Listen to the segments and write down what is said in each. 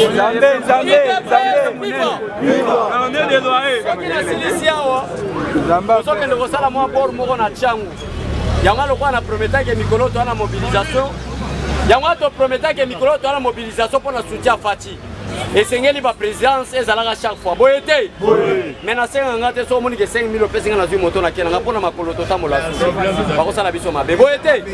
Nzambe, Nzambe, Nzambe. Soki nasilisi awa tozokende kosala mwa bor moko na ntango yango lokola na prometake mikolo toa na mobilisation yango toprometake mikolo toa na mobilisation mpo na soutien fati esengeli baprésidence ezalaka chaque fois boye te mai nasenga nga te so omoni ke 5000 opesi nga nazwi moto nakela nga mpo na makolo totambola susu bakosala biso mabe boye te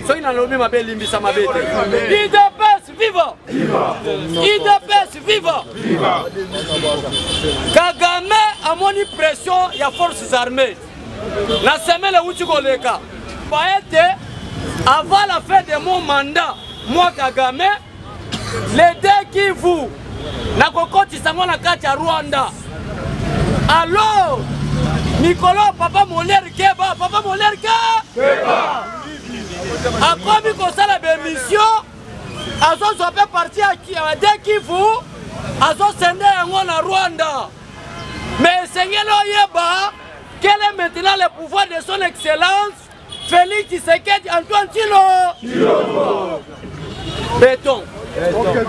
soki nalobi mabe elimbisa mabe te Viva! Viva! Idps viva! Viva! Kagame amoni pression ya forces armées na semaine euti koleka pa ete avant la fin de mon mandat moi Kagame les deux Kivu nakokotisa yango na kati ya Rwanda alors mikolo papa Molière Keba papa Molière Keba akomi kosala bemission azozwa mpe parti ya de kivu azosende yango na rwanda me esengeli oyeba quel est maintenant le pouvoir de son excellence félix tshisekedi antoine tilo beton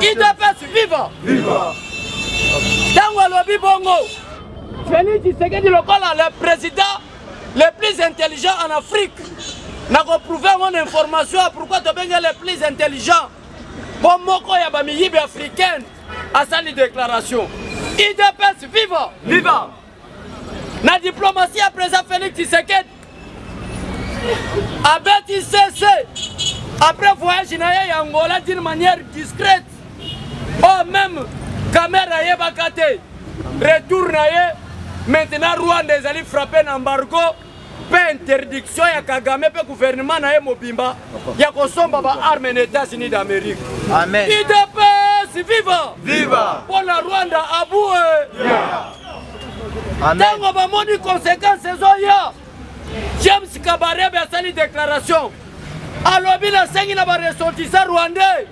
idps viva ntango alobi bongo félix tshisekedi lokola le président le plus intelligent en afrique nakoprouve yango na information ya pourkui tobenge le plus intelligent mpo moko ya bamiyibi africaine asali déclaration idps viva viva na diplomatie ya président félix tshisekedi abeti cc après voyage na ye ya angola d'une manière discrète oh meme kamere ayebaka te retour na ye maintenant rwanda ezali frappe na embargo mpe interdiction ya kagame mpe gouvernement na ye mobimba ya kosomba baarme na états-unis d'amérique idps viva viva mpo na rwanda abue ntango bamoni conséquence ezoya james kabarebe asali déclaration alobi nasengi na baressortissant rwandais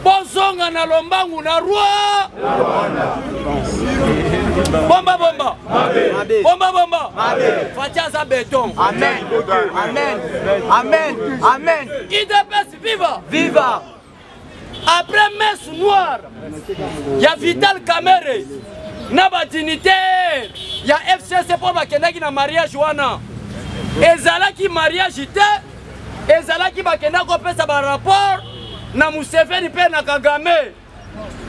bozonga na lombangu na roi bomba bomba bomba bomba fati aza beton amen amen amen amen idps viva viva après messe noire ya vital camere na badignitaire ya fcc mpo bakendaki na mariage wana ezalaki mariage te ezalaki bakenda kopesa barapport na museveni mpe na kagame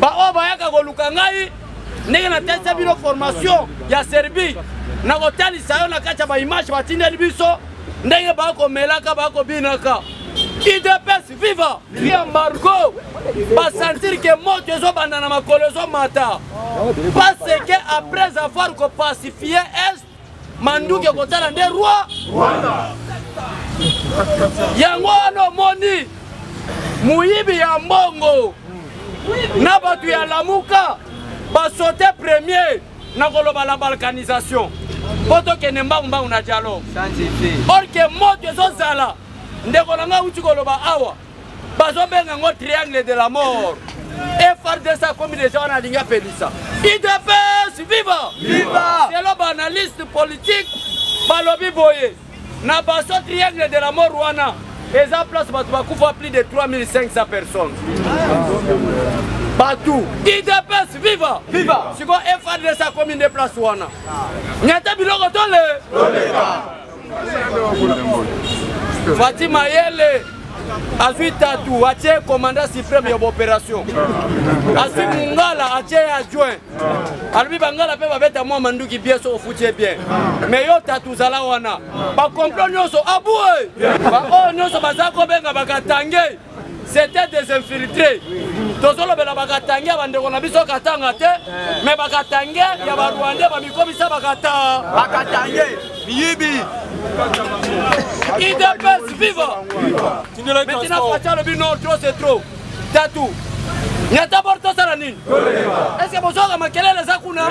baoyo bayaka koluka ngai ndenge natalisa bino formation ya serbie nakotalisa yo na kati ya baimage batindeli biso ndenge bakomelaka bakobinaka idps viva vi embargo basentir ke moto ezobanda na makolo ezomata parce que après avoir kopacifie est manduki ekotala nde roi yango wana omoni moyibi ya mbongo na bato ya lamuka basote premier na koloba la balkanisation mpo tokende mbangumbangu na dialogue orke moto ezozala ndeko na ngai auti koloba awa bazobenga yango triangle de la mort efrdc akomi deja wana alingi apelisa idps viva viva selo baanalyste politique balobi boye na baso triangle de la mort wana eza place bato bakufa plus de 3500 personnes bato idps viva viva sikoyo efrdc akomi nde place wana ngete biloko tole Fatih Mayele azwi tatu atie commandant supreme ya baopération azwi mungala atie ye adjoint alobi bangala mpe babeta mwa manduki bien so ofuti ye bien mais yo tatu ozala wana bacomplo nyonso abue baoyo nyonso baza kobenga bakatange c'était des infiltrés tozolobela bakatange ya bandeko na biso katanga te me bakatange ya barwande bamikomisa bakata bakatange miyibi idps viva metina faci alobi no tro se tro tatu nyata bor tosala nini eske bozwaka makelele eza kuna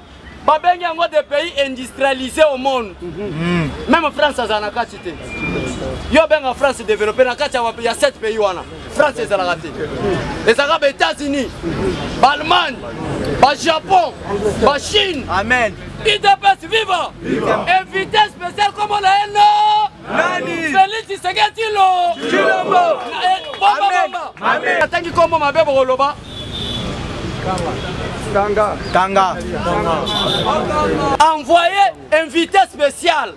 babengi yango de pays industrialise au monde mm. meme france azala na kati te yo obenga france développe na kati ya 7 pays wana france ezalaka te ezalaka ba états-unis baallemagne bajapon bachine amen idps viva invité spécial comme la haine Nani? Felix Tshisekedi Tilo. Tshilombo. Eh, bomba, Amen. bomba. Amen. Atangi kombo mabe bokoloba. Kanga. Kanga. Envoyé invité spécial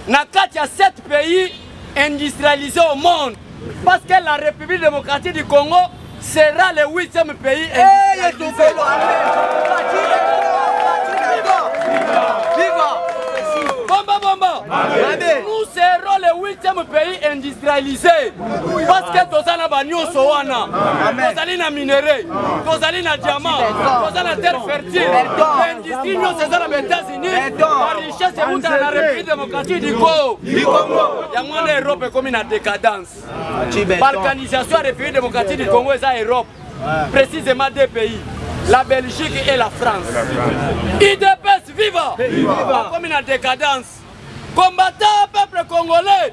na kati ya 7 pays industrialisés au monde. Parce que la République démocratique du Congo sera le huitième pays industrialisé. Bomba, bomba. Nous serons le huitième pays industrialisé parce que toza na banyoso wana tozali na minerai tozali na diamant toza na terre fertile industrie nyonso eza na baetats richesse euta na république démocratique du congo yango wana europe ekomi na décadence balkanisation ya république démocratique du congo eza europe précisément deux pays la belgique et la france idps viva bakomi na décadence combattant peuple congolais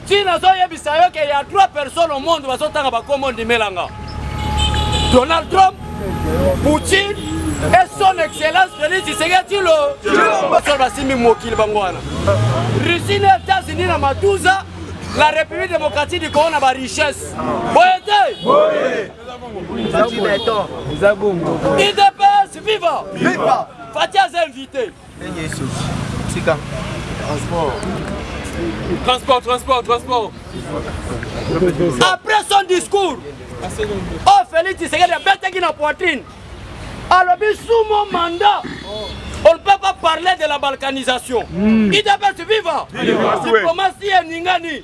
ti nazoyebisa yo ke ya trois personnes au monde bazotanga bakombo ndimela nga donald trump poutine et son excellence felix tshisekedi tilo basolo basimbi mokili bango wana russie na états-unis na matuza la république démocratique du congo na barichesse boye te idps viva fati aza invité ndenge esoki tika transport transport transport transport après son discours oyo félix tshisekedi abetaki na poitrine alobi sous mon mandat on ne peut pas parler de la balkanisation mm. idps viva diplomatie eningani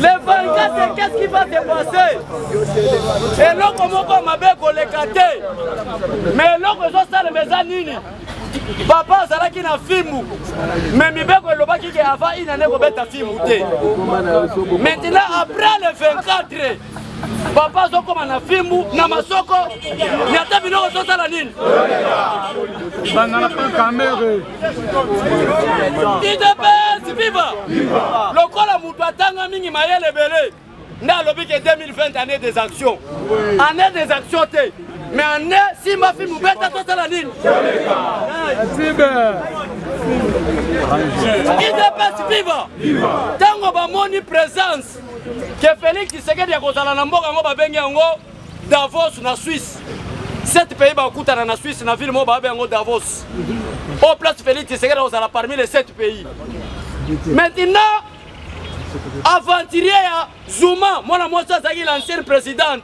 le 24 qu'est-ce qui va se passer eloko moko mabe koleka te mais eloko ezosalema eza nini papa azalaki na fimbu me mibeko elobaki ke avant inane kobeta fimbu te maintenant après le 24 papa azokoma na fimbu na masoko ni ata biloko tozala nini idps viva lokola moto atanga mingi mayele ebele nde alobi ke 2020 année des actions année des actions te mais année simba fimbu beta tozala nini idps viva ntango bamoni présence ke Felix Tshisekedi akozala na mboka yango babengi yango Davos na Suisse sept pays bakutana na Suisse na ville moko babengi yango Davos o oh, place Felix Tshisekedi akozala parmi les sept pays maintenant aventurier ya Zuma mwana mwasi azalaki l'ancienne présidente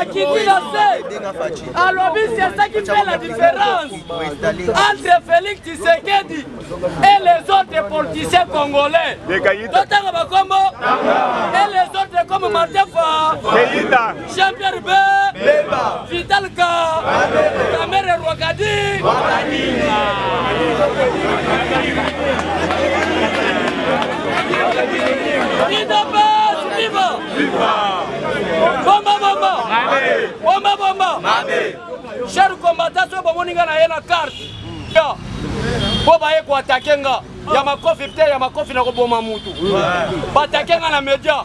akiti na se alobi sesaki mpe la différence entre félix tshisekedi et les autres politiciens congolais totanga bakombo et les autres comme martin fa Jean Pierre Be Beba Vitalka Kamere Rwakadi Rwakadi Idapes Viva Viva Bomba Bomba Mabe Bomba Bomba Mabe Cher combattant soki bomoni nga na ye na carte mpo baye koatake nga ya makofi te ya makofi na koboma mutu batake nga na media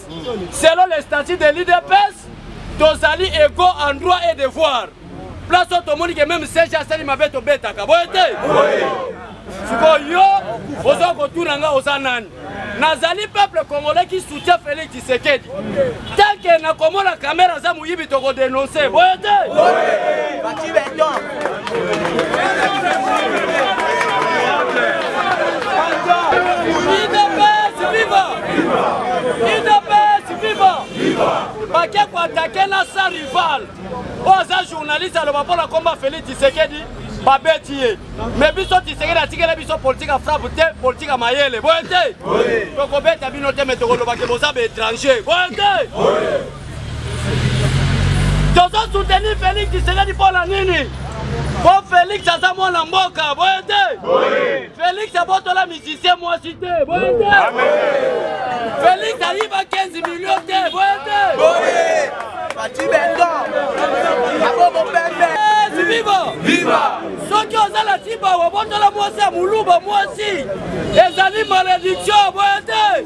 selon le statut de l'udps tozali ego en droit et devoir place oyo tomoni ke meme sege asali mabe tobetaka boye te sikoyo yo oza kotuna nga oza nani nazali peuple congolais qui soutient félix tshisekedi tanke nakomona kamera aza moyibi tokodenonse boye te bake koatake na sa rival oyo aza journaliste aloba mpo na komba félix tisekedi babeti ye me biso tisekedi atikela biso politike ya frappe te politike ya mayele boye te tokobeta bino te me tokolobake boza baétranger boye te tozo soutenir Felix Tshisekedi mpo na nini mpo Felix aza mwana mboka boye te Felix abotola musicien mwasi te boye te Felix ayiba 15 million te boye te Fatshi Beton Abobo Pembe Viva Viva soki oza na tiba obotola mwasi ya moluba mwasi ezali malediction boye te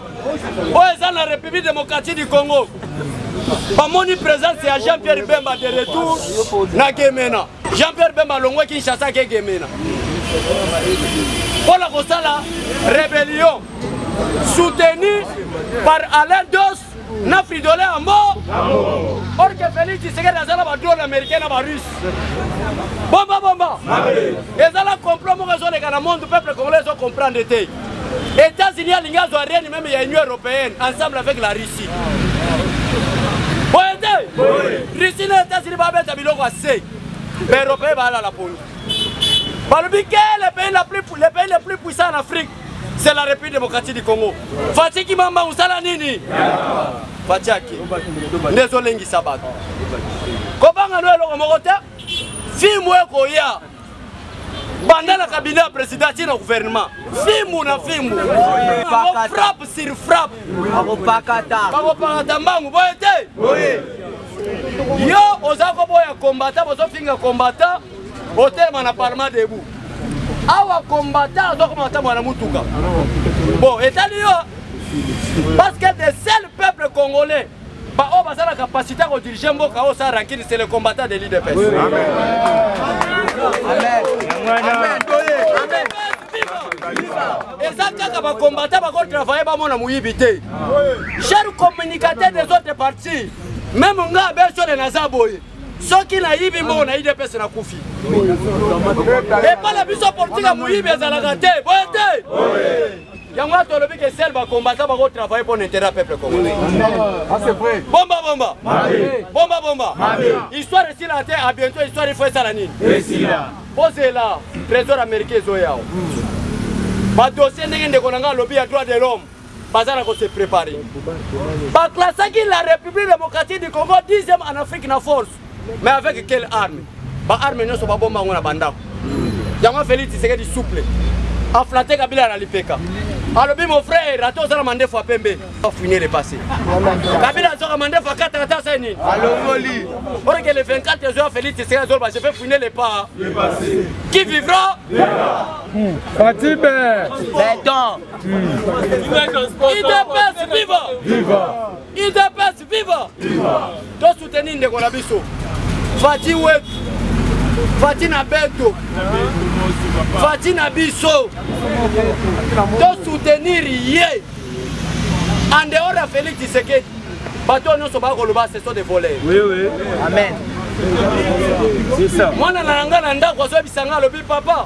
oyo eza na république démocratique du congo bamoni présence ya jean pierre bemba de retour na gemena jean pierre bemba alongwe kinshasa ake gemena mpo na kosala rébellion soutenu par alain dos na fridole ya mbo or ke félix tshisekedi aza na badrone américain na barusse bomba bomba ezala complot moko ezoleka na monde peuple congolais ezo comprendre te Etats-Unis alingi azwa règne meme ya Union européenne ensemble avec la Russie. Boye te? Russie na Etats-Unis babeta biloko ya se. Ba européens balala pongi. Balobi ke le pays la plus le pays le plus puissant en Afrique c'est la République démocratique du Congo. Fatshi Kimamba usala nini? Fatshi ake. Ndezo lengisa bato. Kobanga no eloko moko te. Film ekoya. banda na kabine ya president ti na gouvernement fimbu na fimbu frappe sur frappe bakopakata mbangu boye te yo oza koboya kombata bozofinga kombata otelema na parlement debout awa kombata azokoma ata mwana motuka bon etali yo parce que de seul peuple congolais Ba oyo baza na capacité ya kodirige mboka oyo sa rankini c'est le combattant de l'idps eza kaka bakombata bakotravaille bamona moyibi te cher communicateur des autres parties meme nga abesole naza boye soki nayibi mbongo na idps nakufi epai na biso politike ya moyibi ezalaka te boye te yango wana tolobi ke sel bacombatant bako travaille mpo na intérêt ya peuple congolais bomba bomba bomba bomba histoire esila te a bientôt histoire ifo esala nini bozela trésor américain ezoyao badossier ndenge ndeko na ngai alobi ya droit de l'homme baza na kose prépare baclassaki la république démocratique du congo 10e en afrique na force mais avec quelle arme ba arme nyonso babomba yango na bandako yango félix tshisekedi souple aflate kabila na lipeka alobi mon frère ata ozala mandefu apembe afuine le passé kabila azwaka mandefu akataka ata se nini alongoli oreke le 24 ezoya félix tshisekedi azoloba je vais fuine le pas qui vivra Fatih Be. Béton. Idepes viva. Viva. Idepes Viva! Viva! To soutenir ndeko na biso. Fati wetu. Fati na beto. Fati na biso. To soutenir ye. En dehors ya Felix Tshisekedi. Bato oyo nyonso bakoloba ce sont des voleurs. Oui oui. Amen. Mwana na yanga na ndako azoyebisa nga alobi papa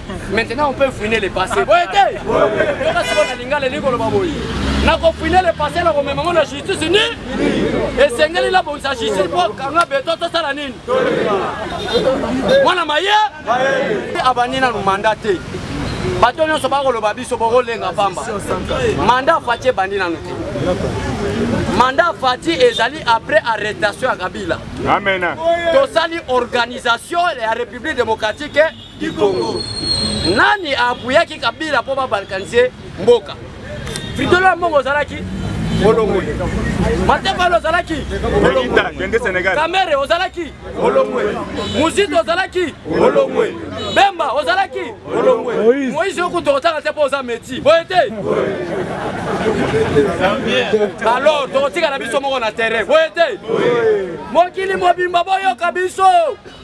maintenant on peut fouiner le passé boye te yoka sikoyo na lingala elingi koloba boye nakofouine le passé na komema ngo na justice ni esengeli nabongisa justice mpo kanga beton tosala nini mwana maye abandi nanu manda te bato nyonso bakoloba biso bokolenga pamba manda fati ebandi nanu te manda fati ezali après arrestation ya kabila tosali organisation ya république démocratique kikongo nani apuyaki kabila mpo babalkanize mboka fridolo ya mbongo ozalaki olongwe matebalo ozalaki kamere ozalaki olongwe muzito ozalaki olongwe bemba ozalaki olongwe moise okutu okotanga te mpo oza meti boye te alors tokotikala biso moko na terrain boye te mokili mobimba boyoka biso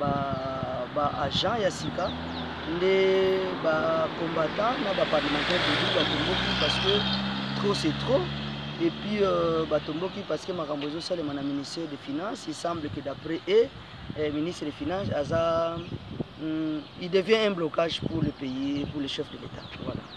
ba ba agent ya sika nde ba combattant na ba parlementaire tobi batomboki parce que trop c'est trop et puis euh, batomboki parce que makambo ezosalema na ministère de finance il semble que d'après e eh, ministre de finance aza mm, il devient un blocage pour le pays pour le chef de l'état voilà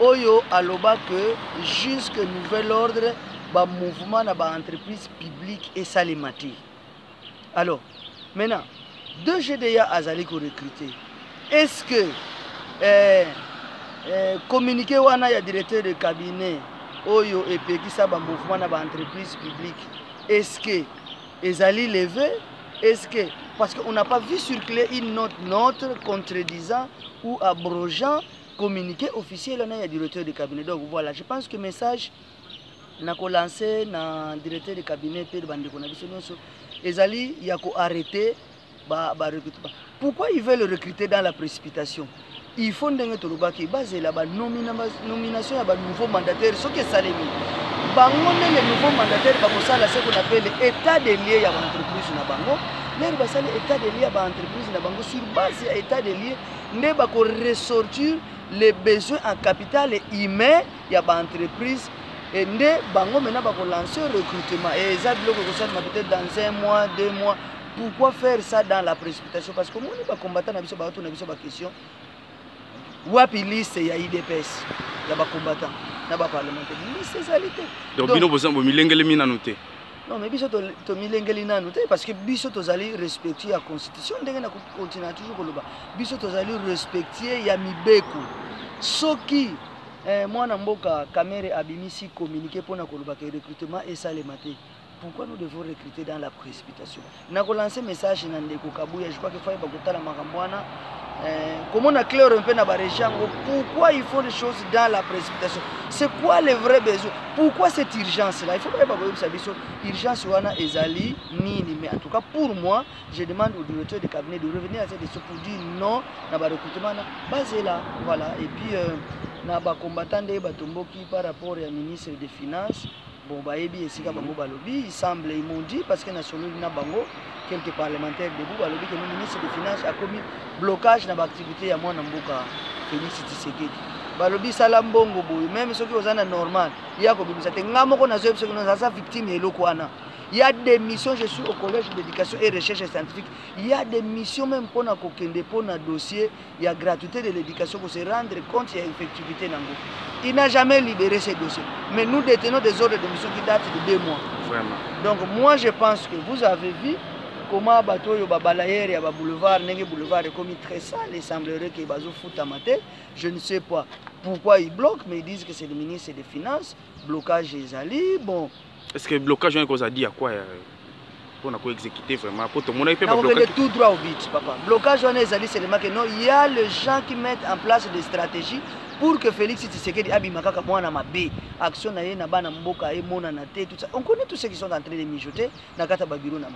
oyo aloba que jusque nouvel ordre ba mouvement na ba entreprise publique esalema te alors maintenant de gda azali korecrute est ce que eh, eh, communiqué wana ya directeur de cabinet oyo epekisa ba mouvement na ba entreprise publique est ce que ezali leve est ce que parce qu'on n'a pas vu circuler une note, note contredisant ou abrogeant communiqué officiel wana ya directeur de cabinet donc voilà je pense que message na kolanse na directeur de cabinet mpe bandeko na biso nyonso ezali ya koarrete barecrute ba, ba pourquoi ils veulent recruter dans la précipitation il faut ndenge tolobaki bazela banomination ya banouveau mandataire soki esalemi bango nde le nouveau mandataire bakosala se qu'on appelle état de lieu ya baentreprise na bango lere basali état de lieu ya baentreprise na bango sur base ya état de lieu nde bako ressortir les besoins en capital humain ya ba entreprise et nde bango maintenant bako lancer recrutement et eza biloko ekosalema peut-être dans un mois deux mois pourquoi faire ça dans la précipitation parce que omoni bacombattant na biso baoto na biso baquestion wapi liste ya idps ya bacombattant na baparlementaire liste ezali te donc bino boza bomilengelemi nanu te non mais biso tomilengeli nanu te parce que biso tozali respectueux ya constitution ndenge na continua toujours koloba biso tozali respectueux ya mibeko soki eh, mwana mboka kamere abimisi communiqué mpona koloba ke recrutement esalema te pourquoi nous devons recruter dans la précipitation na ko lancer message na ndeko Kabuya je crois que faut bakotala makambo wana eh, komona claire mpe na baregie yango pourquoi il faut les choses dans la précipitation c'est quoi le vrai besoin pourquoi cette urgence là il faut bayeba koyebisa biso urgence wana ezali nini mais en tout cas pour moi je demande au directeur de cabinet de revenir à cette question pour dire non na barecrutement wana bazela voilà et puis euh, na bacombattant nde batomboki par rapport ya ministre des finances Bon, bayebi esika bango balobi, il semble, ils m'ont dit, parce que na sololi na bango, quelques parlementaires debout, balobi que le ministre des Finances a commis blocage na activité ya mwana mboka Félix Tshisekedi. Balobi sala mbongo boye, même soki oza na normal, ya kobimisa te. Nga moko nazo yebisa kino naza victime ya eloko wana. Il y a des missions, je suis au collège d'éducation et recherche scientifique. Il y a des missions même pour na kokende pour na dossier ya gratuité de l'éducation ko se rendre compte ya effectivité nango il n'a jamais libéré ces dossiers mais nous détenons des ordres de mission qui datent de deux mois Vraiment. donc moi je pense que vous avez vu comment bato oyo babalayere ya baboulevard ndenge boulevard ekomi très sale il semblerait que bazofutama te je ne sais pas pourquoi ils bloquent mais ils disent que c'est le ministre des finances blocage ezali bon est ce que blocage wana ekozala di ya kwa ya mpo na koexécute vraiment mpo tomonaki mpe nakokende tout droit au but papa blocage wana ezali selema ke non ya le gens qui mettent en place des stratégies pour que félix tshisekedi abima kaka mwana mabe action na ye na bana mboka emonana te tout ça on connaît tout ce qui sont en train de mijoter na kati ya babiro na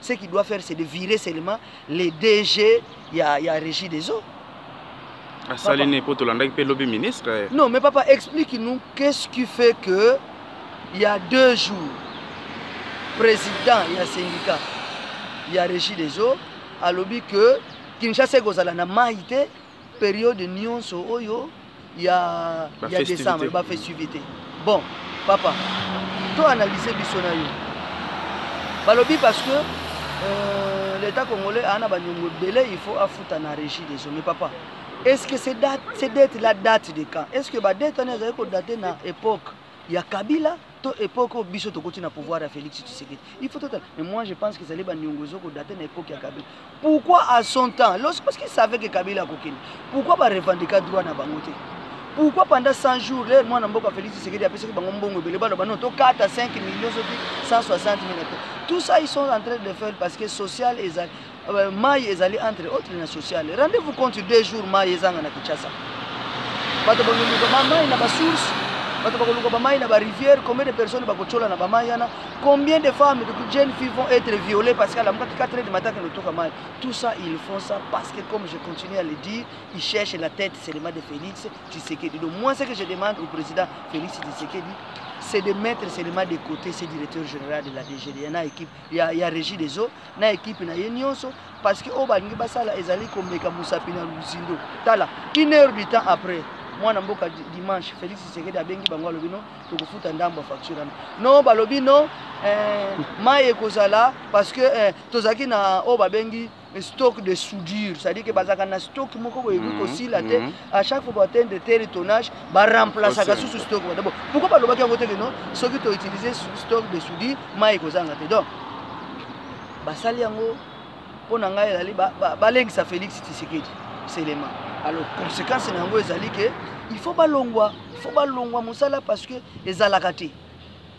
ce qui doit faire c'est de virer seulement les DG il y a, il y a régie des eaux asali ne mpo tolandaki mpe lobi ministre eh. non mais papa explique nous qu'est-ce qui fait que il y a deux jours président il y a syndicat il y a régie des eaux alobi que kinshasa ekozala na mai te periode nionso oyo ya ba ya décembre ba festivité bon papa to analyser biso na yo balobi parce que euh, l'état congolais ana ba nyongo belé il faut afuta na régie des hommes papa est-ce que ces dates ces dettes la date de quand est-ce que ba dette on est ko dater na époque ya kabila to epoque oyo biso tokoti na pouvoir ya félix tshisekedi il faut totala mais moi je pense qu'ezali baniongo ezo kodate na epoque ya kabila pourquoi à son temps lorsque parce qu'il savait que kabila akokende pourquoi barevendika droit na bango te pourquoi pendant 100 jours lere mwana mboka félix tshisekedi apesaki bango mbongo ebele baloba no tokata 5 millions soki 160 mille tout ça ils sont en train de faire parce que social ezali Euh, mai ezali entre autre na sociale rendez vous compte deux jours mai ezanga na kinshasa bato bakoluka bamai na basource bato bakoluka bamai na barivière combien de personnes bakotyola na bamai wana combien de femmes de jeune fille vont être violées parce qu'elle amukaki 4 heures du matin kende toka mai tout ça ils font ça parce que comme je continue à le dire ils cherchent la tête seulement de félix tshisekedi donc moi ce que je demande au président félix tshisekedi c'est de mettre seulement de côté ce directeur général de la DGDNA équipe ya, ya régie des eaux na ekipe na ye nyonso parce que oyo balingi basala ezali komeka mosapi na luzindo tala une heure du temps après mwana mboka dimanche félix tshisekedi abengi bango alobi no tokofuta ndambo ya facture wana no balobi no eh, mai ekozala parce que eh, tozalaki na oyo babengi stock de soudure c'est-à-dire que bazalaka na stock moko boye ekoki kosila te à chaque fois baatteindre de tel tonnage baremplasaka susu stock wana bon pourquoi balobaki yango te keno soki toutilize stock de soudure mai ekozanga te donc basali yango mpo na ngai ezali balengisa félix tisekedi selema alors conséquence na yango ezali ke il faut balongwa il faut balongwa mosala parce que ezalaka te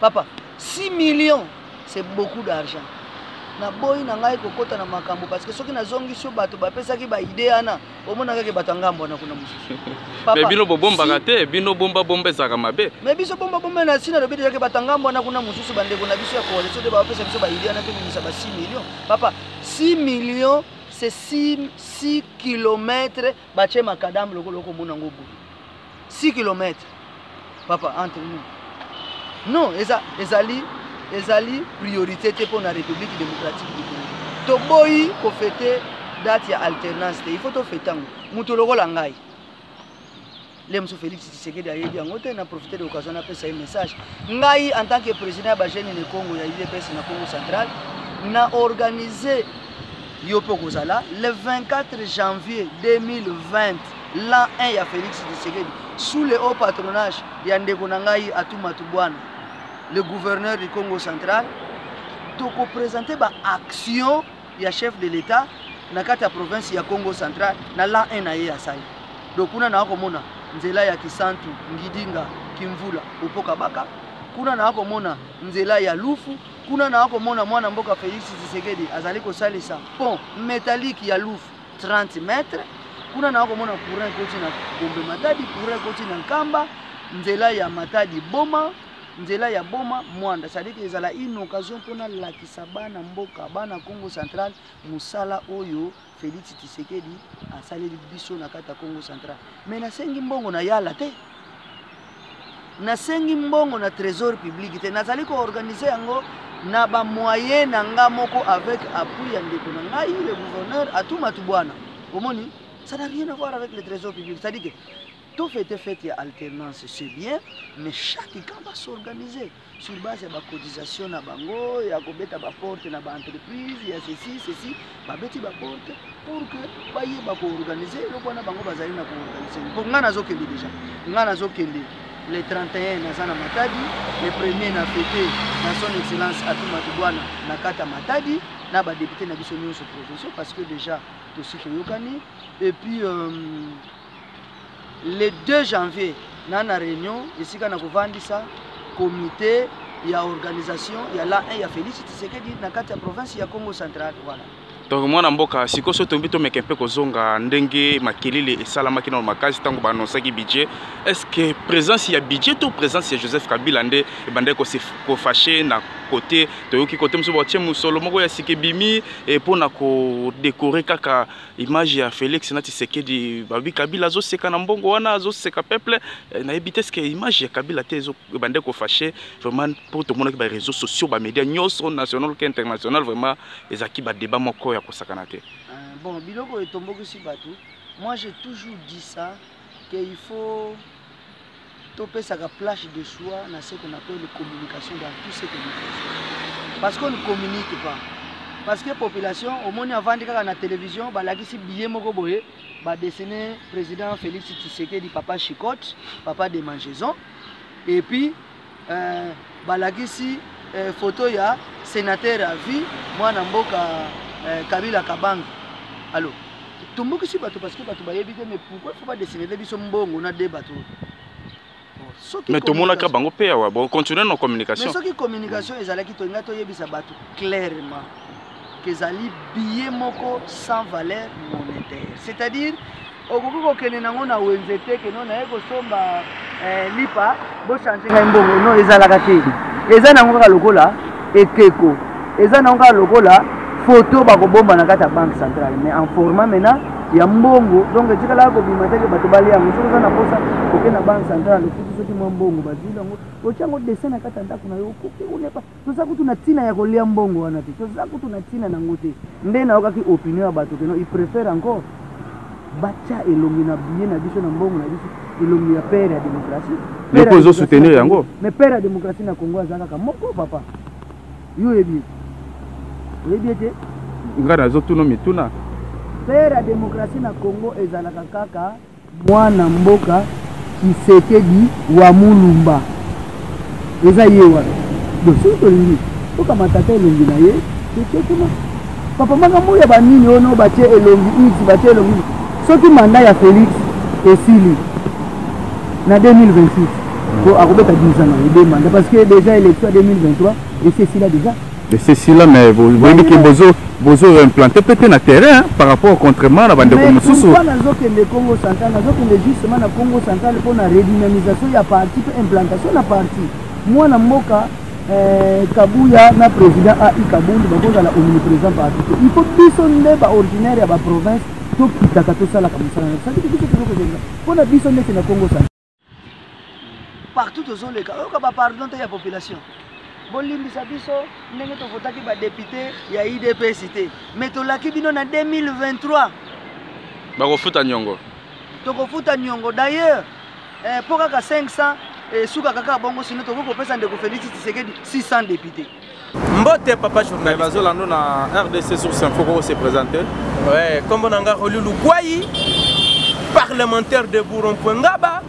papa 6 millions c'est beaucoup d'argent naboyi na ngai kokota na makambo parce que soki nazongisi yo bato bapesaki baide wana omonaka ke bato ya ngambo wana kuna mosusu mais bino bobombaka te bino bombabomba ezalaka mabe mais biso bombabomba na sina lobi dejake bato ya ngambo wana kuna mosusu bandeko na biso ya coalition nde bapesa biso baide wana tobimisa ba 6 million papa 6 million c'est 6 kilomètre batie makadame lokola okomona yango boye 6 kilomètre papa entre nous non eza, ezali ezali priorité te mpo na république démocratique du congo toboyi kofete date ya alternance te il faut tofete yango moto lokola ngai lelo mosusu félix tshisekedi ayebi yango te na profite de occasion napesa ye message ngai en tant que président ya bajeune ne congo ya udps na congo central na organise yo mpe okozala le 24 janvier 2020 l'an 1 ya félix tshisekedi sous le haut patronage ya ndeko na ngai atuma tubwana le gouverneur du congo central tokopresente baaction ya chef de l'etat na kati ya province ya congo central na la 1 na ye asali donc kuna naa komona nzela ya kisantu ngidinga kimvula opoka baka kuna naa komona nzela ya lufu kuna naa komona mwana mboka felix tshisekedi azali kosalisa pont métallique ya lufu 30 mètre kuna naa komona courant ekoti na gombe matadi courant ekoti na nkamba nzela ya matadi boma nzela ya boma mwanda sadiki ezala une occasion mpo nalakisa bana mboka bana congo central mosala oyo félix tisekedi asaleli biso na kati ya congo central mais nasengi mbongo na yala te nasengi mbongo na trésor public te nazali koorganize yango na bamoye na nga moko avec appui ya ndeko na ngai le gouverneur atumatu bwana omoni ça n'a rien à voir avec le trésor public c'est-à-dire que To fete fete ya alternance c'est bien, mais chaque camp va s'organiser sur base ya ba cotisation na bango ya kobeta ba porte na ba entreprise ya ceci ceci, babeti ba porte pour que bayeba ko organiser eloko wana bango bazali na ko organiser. Mpo ngai nazokende deja, ngai nazokende le 31 naza na Matadi, le premier na fete na son excellence Atuma Tubwana na kata Matadi na ba député na biso nyonso provinciaux parce que deja tosi toyokani et puis euh, le 2 janvier na na réunion esika na kovandisa comité ya organisation ya la 1 ya Félix Tshisekedi na kati ya province ya Congo central voilà donc mwana mboka sikoyo so toyebi tomeka mpe kozonga ndenge makelele esalamaki nano makasi ntango baanonsaki budget est ce que présence ya budget to présence ya joseph kabila nde ebandaki kofache na kote toyoki kote mosusu batie mosolo moko ya sika ebimi mpo na kodekore kaka image ya Felix na Tshisekedi babi Kabila azoseka na mbongo wana azoseka peuple eh, nayebi te que image ya Kabila te ezo bande ko fâcher vraiment pour tout le monde qui ba réseaux sociaux ba médias nyonso national que international vraiment ezaki ba débat moko ya kosakana te ah, bon biloko etombokisi bato moi j'ai toujours dit ça que il faut topesaka place de choix na ce qu'on appelle communication dans tout ce que nous faisons parce qu'on ne communique pas parce que population omoni avandi kaka na télévision balakisi billet moko boye badessine président félix tshisekedi papa chicote papa de mangeson et puis eh, balakisi eh, foto ya senateur à vie mwana mboka eh, kabila kabanga alo tombokisi bato parce que bato bayebi te mais pourquoi faut badessinele biso mbongo na de bato mais tomonaka bango mpe awa bocontinue na communication mais soki communication ezalaki tolinga toyebisa bato clairement kezali billet moko sans valeur monétaire c'est-à-dire okoki kokende nango na wenze te keno naye kosomba eh, lipa bochange ngai mbongo no ezalaka te eza nango kaka lokola ekeko eza nango kaka lokola foto bakobomba na kati ya banque centrale mais en format maintenant ya mbongo donc etikala kobima teke bato balia yango soki oza na mposa oke na banque centrale okuti soki mwa mbongo bazwi yango otya yango dessin na kati ya ndako na yo okoki onepa toza kutu na ntina ya kolia mbongo wana te toza kutu na ntina nango te nde nayokaki opinion ya bato keno iprefere encore batya elongi na biye na biso na mbongo na biso elongi ya pere ya démocratie mpo ezo soutenir yango mais pere ya démocratie na congo aza kaka moko papa yo oyebi oyebi ete ngai nazotuna mituna pere ya démocratie na congo ezalaka kaka Muana mboka tshisekedi wa mulumba eza ye wana donc soki tolingi tokamatata elongi na ye totie kuna papa makambo ya banini oyo no batie elongi iti batie elongi soki manda ya felix esili na 2026 po akobeta 10 ans na ye de manda parce que déjà élection ya 2023 esi esila déjà c'est sila mais boyebi ke bozo bozo implanter peut na terrain par rapport contrairement na bande ko mususu mais nazo kende Congo central nazo kende justement na Congo central pour na redynamisation ya parti pe implantation na parti moi na mboka eh, kabuya na président ai kabundu bakozala omniprésent parti te il faut biso nde baordinaire ya baprovince tokitaka tosalaka mosala na biso biso tozokozela mpo na biso ndete na congo central partout tozoleka oyoka bapardon te ya population bolimbisa biso ndenge tovotaki badepute ya idps te me tolaki bino na 2023 bakofuta nyongo tokofuta nyongo d'ailleurs eh, mpo kaka 500 esukaka eh, kaka bongo sino tokoki kopesa ndeko félix tshisekedi 600 depute mbote papa journaliste bazolando na rdc source info koko se présente ouais kombo na nga roli lukwai parlementaire de bourron point ngaba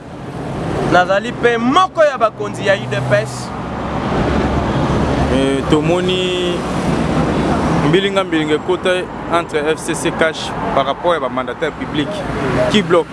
nazali mpe moko ya bakonzi ya udps eh, tomoni mbilinga mbilinga ekota entre fcc cash par rapport ya bamandataire public qui bloque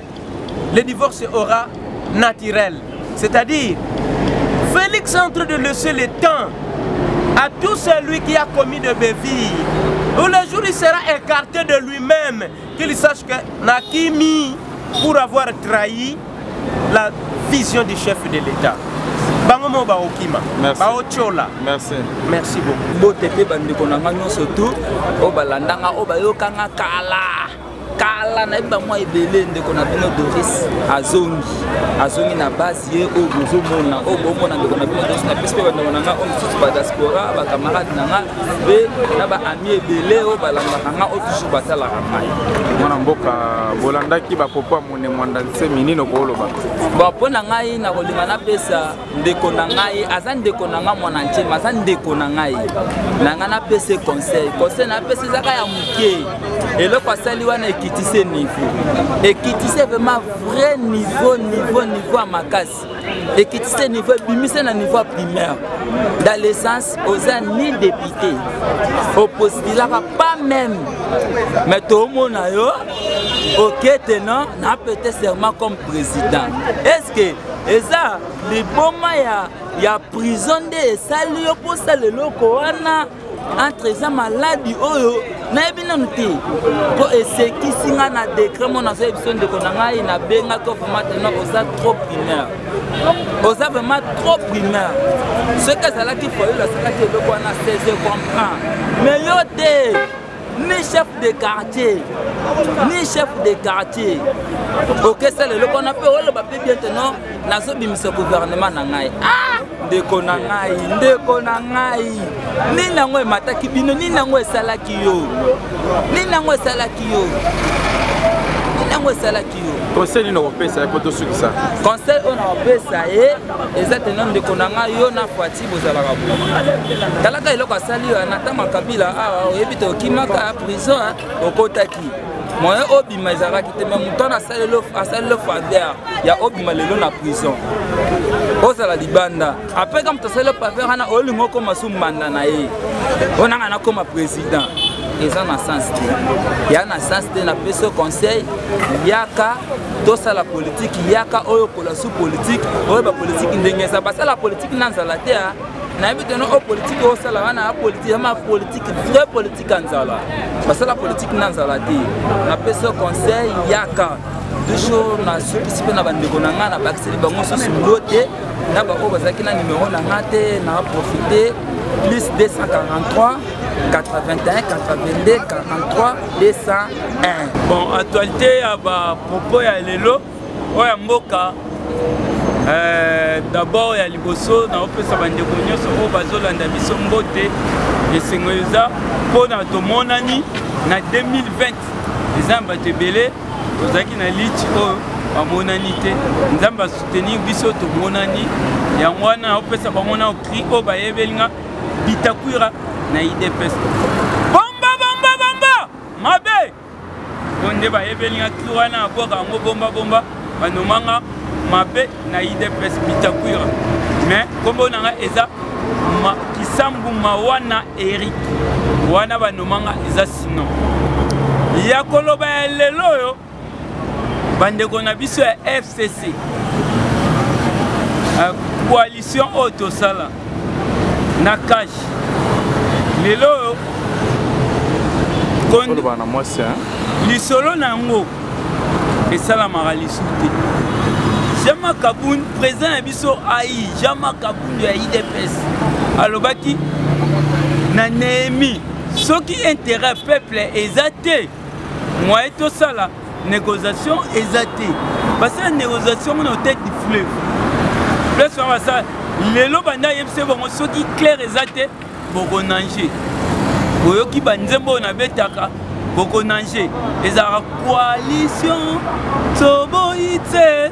le divorce aura naturel. C'est-à-dire, Félix est en train de laisser le temps à tout celui qui a commis de bévilles. Où le jour il sera écarté de lui-même, qu'il sache que Nakimi, pour avoir trahi la vision du chef de l'État. bango mo baokima baotyola merci merci beaucoup bote mpe bandeko na ngai nyonso tu oyo balandanga oyo bayokanga kala kala nayebi bamwa ebele ndeko na bino doris azongi azongi na base ye oyo bozomona oyo bomona ndeko na bino doris napesi mpe bandeko na ngai oyo mosusu badiaspora bacamarade na ngai mpe na baami ebele oyo balandaka ngai oyo toujours batalaka ngai mwana mboka bolandaki bapopo ya mone mwanda nsemi nini okoloba bon mpo na ngai nakolinga napesa ndeko na ngai aza ndeko na ngai mwana ntie ma aza ndeko na ngai na ngai napesa ye conseil conseil napesa ezaka ya moke eloko asali wana ekitisi niveau ekitisi vraiment vrai niveau niveau niveau ya makasi ekitisi niveau ebimisi na niveau ya primaire dans le sens oza ni député opostulaka pas même mais tomona yo okete non napete serment comme président est ce que eza liboma ya, ya prison nde esali yo mposala eloko wana entre eza maladi oyo nayebi nanu te mpo esekisi ngai na dekret mona azoye biso ndeko na ngai nabengaki vraiment tena oza trop primeur oza vraiment trop primeur soki azalaki foyolo asalaki eloko wana 16 comprend mais yo te ni chef de quartier ni chef de quartier okesala eloko wana mpe oloba mpe bien te non nazobimisa gouvernement na ngai ah! ndeko na ngai ndeko na ngai nini yango emataki bino nini yango esalaki yo nini yango esalaki yo nini yango esalaki yo conseil nini okopesa ye mpo tosukisa conseil oyo nakopesa ye eza tena ndeko na ngai yo na fati bozalaka talaka eloko asali yo na ntama kabila awa ah, oyebi te okimaka ah, prison ah, okotaki moyen obima ezalaki te me moto wana asali le faveur ya obima lelo na prison ozala libanda apres ka moto asali le faveur wana olingi okoma su mbanda na ye oyo nanga nakoma président eza na sens te ya na sens te napesi conseil yaka tosala politiki yaka oyo kola sous politique oyo ba politique ndenge eza basala politique na nzala te ah. nayebi teno o oh, politike osala wana ya politike yama politike vrai politike ya nzala basala politike na nzala te napesi yo conseil yaka toujours nasukisi mpe na bandeko na ngai nabakiseli bango susu lo te na baoyo bazalaki na nimero na ngai te na profite plus 243 81 82 43 201 bon actualité ya bapropos ya lelo oyo ya mboka eh, d'abord ya liboso naopesa bandeko nyonso oyo bazolanda biso mbote esengo eza mpo na tomonani na 2020 eza na bato ebele tozalaki na liti oyo bamonani te nzambe asoutenir biso tomonani yango wana naopesa bango na okri oyo bayebeli nga bitakwira na idps bomba bomba bomba mabe bonde bayebeli nga ki wana abwaka yango bomba bomba banomanga mabe na idps bitakwira mais nkombo na nga eza ma, kisambu mawana eric wana banomanga eza sino ya koloba ya lelo oyo bandeko na biso ya fcc euh, coalition oyo tosala na cash lelo oyo lisolo na yango esalamaka lisu te jama kabund président na biso ai jama kabund ya idps alobaki na nehemi soki intérêt peuple eza te moye tosala négociation eza te basala négociation ngo na hôtel du fleuve place wana basala lelo banda ayebisa bango soki claire eza te bokonange boyoki banzembo oyo nabetaka bokonange ezalaka coalition toboyi te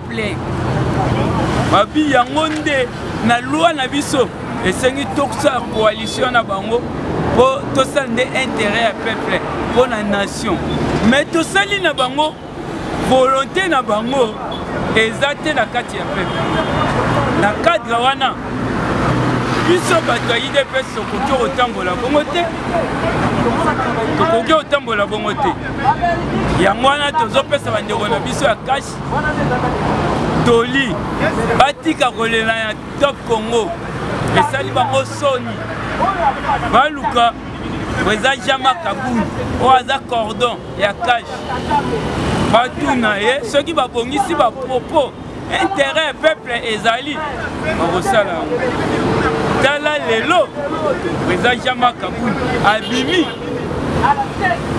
plaît babi yango nde na loi na biso esengi tosala coalition na bango mpo tosala nde intérêt ya peuple mpo na nation mais tosali na bango volonté na bango eza te na kati ya peuple na cadre wana biso bato ya idps tokoki kotambola bongo te tokoki kotambola bongo te yango wana tozopesa bandeko na biso ya kashi toli batika kolela ya top congo esali bango soni baluka eza jama kabuni oyo aza cordon ya kashe batuna ye soki babongisi bapropos intérêt peuple ezali bakosala yango tala lelo eza jama kabuni abimi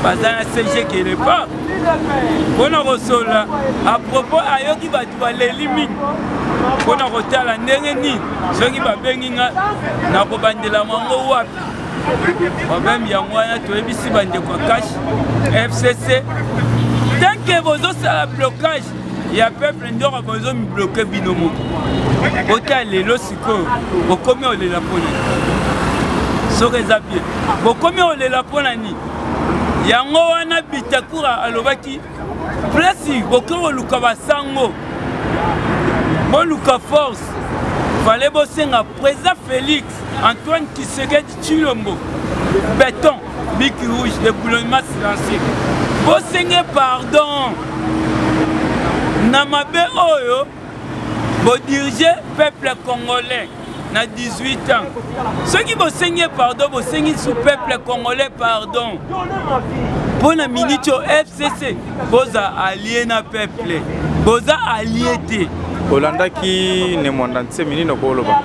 baza na cg quelque part mpo na kosolola apropos ayoki bato baleli mingi mpo na kotala ndenge nini soki babengi nga nakobandela mwango wapi problème yango wana toyebisi bandeko ya cash fcc tanke bozosala blocage ya peuple ndoko bozomibloke bino moko bota lelo sikoyo bokomi olela mpo na nini soki eza bien bokomi olela mpo na nini yango wana bitakura alobaki plasi boke koluka basango boluka force fale bosenga président félix antoine kisekedi chilombo béton biki rouge de boulonnement silencieux bosenge pardon na mabe oyo bodirige peuple congolais na 18 ans soki bosengi pardon bosengi su peuple congolais pardon mpo na miniti oyo fcc boza alie na peuple boza alie te olandaki ne mwanda nsemi nini okoloba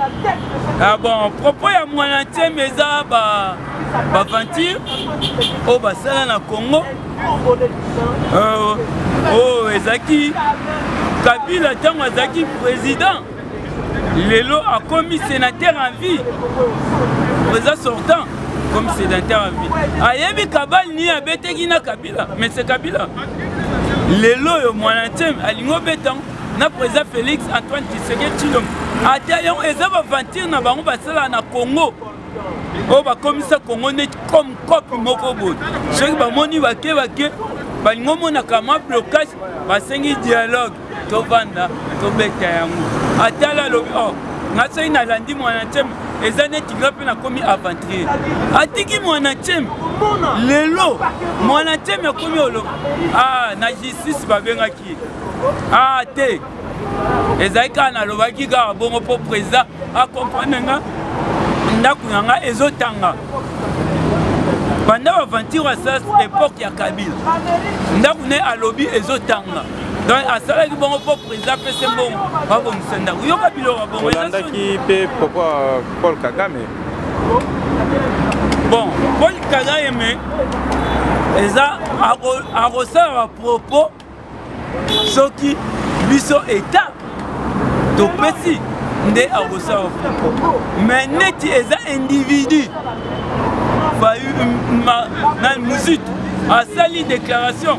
ah bon propos ya mwana nsemi eza ba baventure oyo basala na congo oh, oh ezalaki kabila ntango azalaki président lelo akomi sénateur en vie président sortant comme sénateur en vie ayebi kabal nini abeteki na kabila mais c'est kabila lelo oyo mwana nteme alingi obeta yango na président félix antoine tshisekedi tshilombo ata yango eza baventure na bango basalaka na congo oyo bakomisa kongo neti comme cope moko boye soki bamoni bake bake balingi omonaka mwa blocage basengi dialogue tovanda tobeta yango atala alobi o oh, nga soki nalandi mwana nteme eza neti nga mpe nakomi aventurier atiki mwana nteme lelo mwana nteme akomi oloba ah, na justice babengaki ah te ezali kaka nalobaki kaka bongo mpo président acomprendre nga ndako na nga ezotanga banda baventure asas epoke ya kabila ndako ne alobi ezotanga donc asalaki bongo mpo président apese mbongo babongisa ndako yoka biloko bongo olandaki mpe poko paul kagame bon paul kagame eza akosala bapropos soki biso eta topesi nde akosala mais neti eza individu na muzitu asali déclaration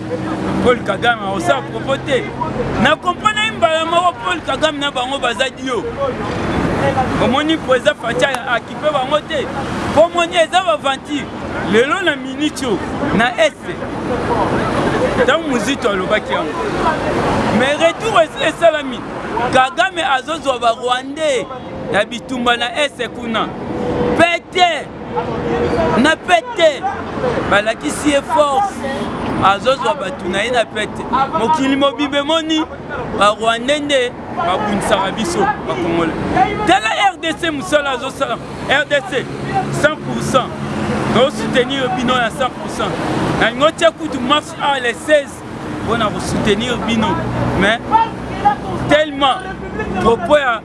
paul kagame akosala propos te na komprana ye mbala moko paul kagame na bango baza dio omoni mpo eza fatia akipe bango te mpo omoni eza baventure lelo na miniti oyo na est ntango mozito alobaki yango mais retour esalami kagame azozwa barwandais ya bitumba na ese kuna pete na pete balakisi ye force azozwa bato na ye na pete mokili mobimba emoni barwande nde babundisaka biso bakongole tala rdc mosala azosala rdc 100 pourcent tosoutenir bino ya 100 pourcent nalingi otye kutu marche a le 16 mpo na kosoutenir bino mais tellement propos ya,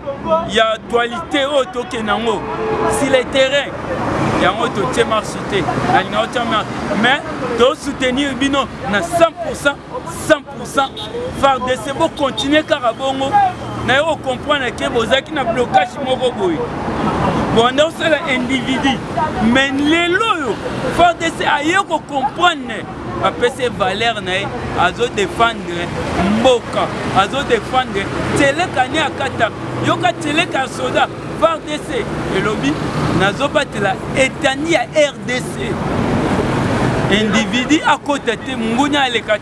ya actualité oyo tokende yango si le terrain yango totie marche te nalinga otya marche mais tosoutenir bino na 100 100% fardc bokontinue kaka bongo naye okomprendre ke bozalaki na blocage moko boye bonde osala individu mais lelo oyo fardc aye kokomprendre bapesi valeur na ye azodefendre mboka azodefendre teleka ni akata yoka teleka ya soda fardc elobi nazobatela etani ya rdc individu akota te mongunia aleka te